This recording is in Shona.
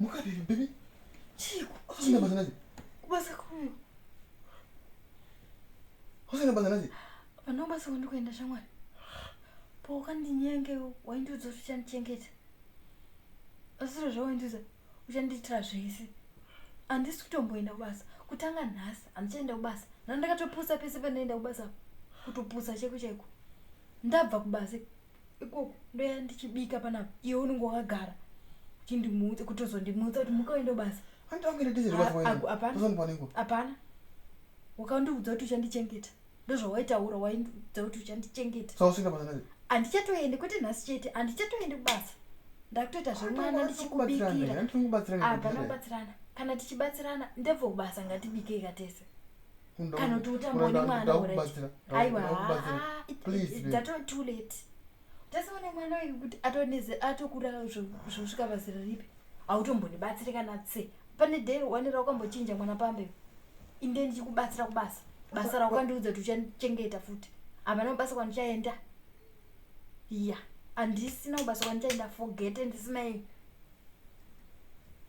Mukadini baby? Chiko. Usina basa naye. Kubasa kuno. Usina basa naye. Vana basa kuno kuenda shamwari. Poka ndinyenge waindiudza kuti uchandichengeta. Asiro zvawaindiudza uchandiitira zvese. Andisi kutomboenda kubasa. Kutanga nhasi andichaenda kubasa. Ndandakatopusa pese pandaenda kubasa. Kutopusa cheko cheko. Ndabva kubasa. ikoko ndoya ndichibika panapa iwe unenge wakagara uchindimutsa kutozondimutsa kuti muka uende basa Hanti wangu ine diesel Ah, bafo aku- wena. hapana. Tozoni panengo. hapana wakandiudza kuti uchandichengeta ndozvawaitaura waindiudza kuti uchandichengeta Saka usina basa naye. handichatoende kwete nhasi chete handichatoende kubasa ndakutoita zvemwana ndichikubikira Hanti wangu batsirana. hapana kubatsirana kana tichibatsirana ndebvo kubasa ngatibikei katese kana kuti utamboone mwana uraaiwa dzatoo too late tasaone mwana uyu kuti atoneze atokura zvosvika pazira ripi hautombonibatsire kana tse pane day wanira ukambochinja mwana pambe inde ndichikubatsira kubasa basa raukandiudza kuti uchachengeta futi hapana kubasa kwandichaenda ya handisina kubasa kwandichaenda forget andisina